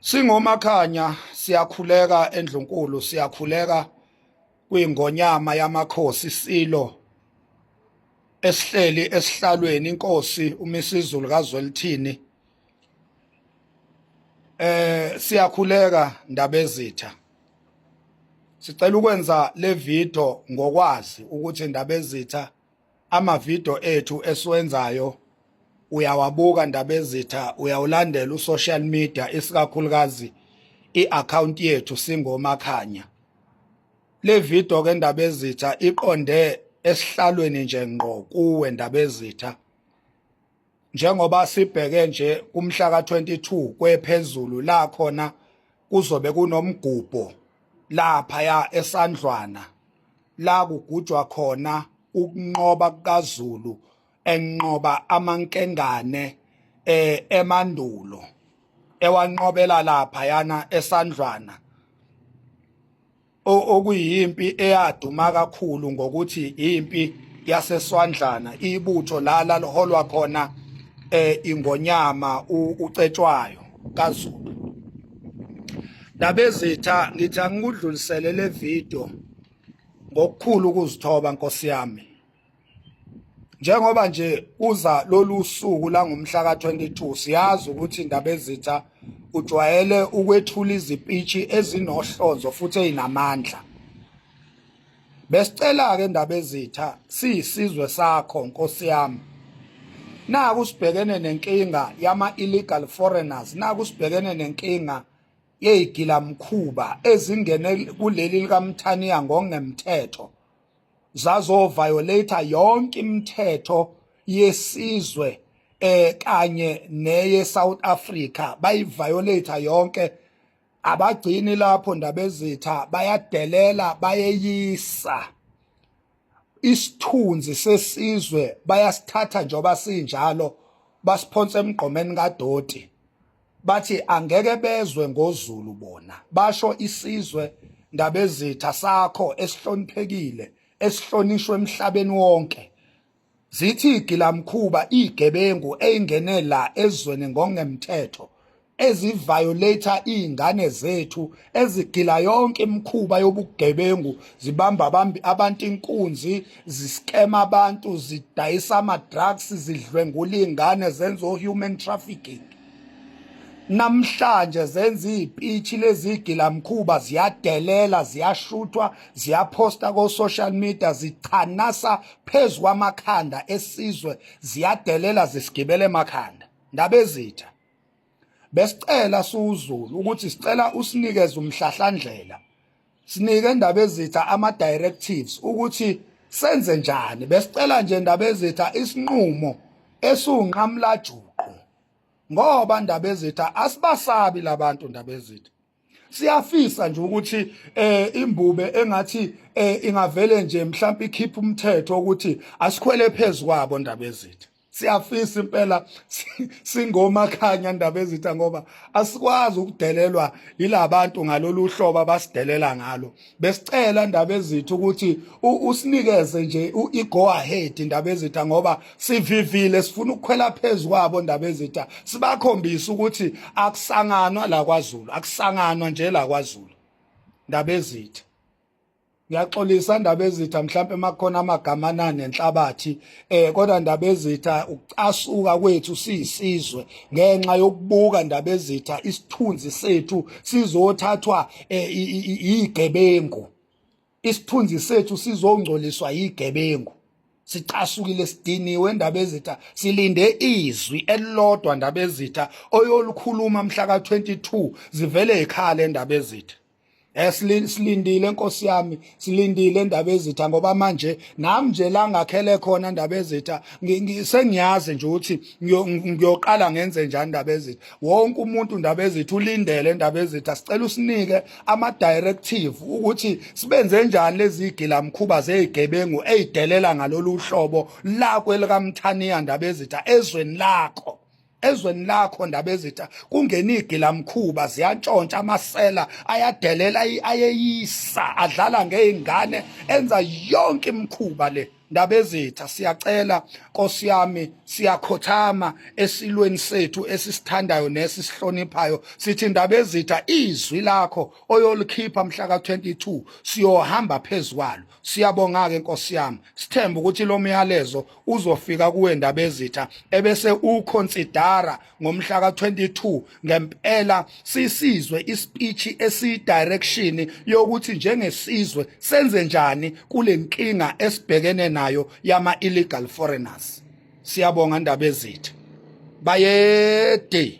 Singomakhanya siyakhuleka endlunkulu siyakhuleka kwingonyama yamakhosi silo esihleli esihlalweni inkosi umisizulu kazwelithini eh siyakhuleka ndabezitha sicela ukwenza le video ngokwazi ukuthi ndabezitha amavidiyo ethu esiwenzayo uyawabuka ndabezitha uyawulandela usocial media isikakhulukazi i-akhawunti yethu singomakhanya le video ke ndabezitha iqonde esihlalweni nje ngqo kuwe ndabezitha njengoba sibheke nje kumhla ka-22 kwephezulu la khona kuzobe kunomgubho laphaya esandlwana la kugujwa khona ukunqoba kukaZulu enqoba amankengane eh emandulo ewanqobela lapha yana esandlwana okuyimpi eyaduma kakhulu ngokuthi impi yaseswandlana ibutho lala liholwa khona eh ingonyama ucetshwayo kaZulu Ndabezitha ngithi angikudlulisele le video ngokukhulu ukuzithoba Nkosi yami njengoba nje uza lolu suku langomhla ka-22 siyazi ukuthi indaba ezitha ujwayele ukwethula izipitshi ezinohlonzo futhi ezinamandla besicela-ke indaba ezitha siyisizwe sakho nkosi yami naku sibhekene nenkinga yama-illegal foreigners naku sibhekene nenkinga yeyigilamkhuba ezingene kuleli likamthaniya ngokungemthetho zazo violator yonke imithetho yesizwe eh kanye neye South Africa bayi violator yonke abagcini lapho ndabezitha bayadelela bayeyisa isithunzi sesizwe bayasithatha njoba sinjalo basiphonsa emgqomeni kadoti bathi angeke bezwe ngozulu bona basho isizwe ndabezitha sakho esihloniphekile esihlonishwe emhlabeni wonke zithi igilamkhuba igebengu eyingene la ezweni ngongemthetho eziviolator izingane zethu ezigila yonke imikhuba yobugebengu zibamba abantu inkunzi ziskema abantu zidayisa ama drugs zidlwengula izingane zenza o human trafficking namhlanje zenza izipitshi lezigilamkhuba ziyadelela ziyashuthwa ziyaphosta ko social media zichanasa phezulu kwamakhanda esizwe ziyadelela zisigibele emakhanda ndabezitha besicela suzulu ukuthi sicela usinikeze umhlahlandlela sinike ndabezitha ama directives ukuthi senze njani besicela nje ndabezitha isinqumo esunqamlajuqu ngoba ndabezitha asibasabi labantu ndabezitha siyafisa nje ukuthi eh imbube engathi eh ingavele nje mhlawumbe ikhipha umthetho ukuthi asikhwele phezulu kwabo ndabezitha siyafisa impela singomakhanya ndaba ezitha ngoba asikwazi ukudelelwa yilabantu ngalolu hlobo abasidelela ngalo besicela ndaba ezitha ukuthi usinikeze nje i-go ahead ndaba ezitha ngoba sivivile sifuna ukukhwela phezu kwabo ndaba ezitha sibakhombise ukuthi akusanganwa la kwaZulu akusanganwa nje la kwaZulu ndaba ezitha ngiyaxolisa ndabezitha mhlawumbe makhona amagama anani enhlabathi eh kodwa ndabezitha ukucasuka kwethu siyisizwe ngenxa yokubuka ndabezitha isithunzi sethu sizothathwa eh, igebengu isithunzi sethu sizongcoliswa igebengu sicasukile sidiniwe ndabezitha silinde izwi elilodwa ndabezitha oyolukhuluma mhla ka 22 zivele ekhaya lendabezitha Eh, silindile nkosi yami silindile indaba ezitha ngoba manje nami nje la ngakhele khona indaba ezitha sengiyazi nje ukuthi ngiyoqala ngenze njani indaba ezitha wonke umuntu indaba ezitha ulindele indaba ezitha sicela usinike ama directive ukuthi sibenze njani lezi igila mkhuba zezigebengu ezidelela ngalolu hlobo lakwe lika Mthaniya indaba ezitha ezweni lakho ezweni lakho ndabezitha kungena igilamkhuba ziyantshontsha amasela ayadelela ayeyisa adlala ngeingane enza yonke imkhuba le ndabezitha siyacela Nkosi yami siyakhothama esilweni sethu esisithandayo nesisihloniphayo sithi ndabezitha izwi lakho oyolikhipha mhla ka 22 siyohamba phezulu Siyabonga-ke Nkosi yami, sithemba ukuthi lo myalezo uzofika kuwe Ndabezitha ebese uconsidera ngomhla ka-22 ngempela sisizwe ispeech esiyidirection yokuthi njengesizwe senze njani kule nkinga esibhekene nayo yama-illegal foreigners. Siyabonga Ndabezitha. Bayede.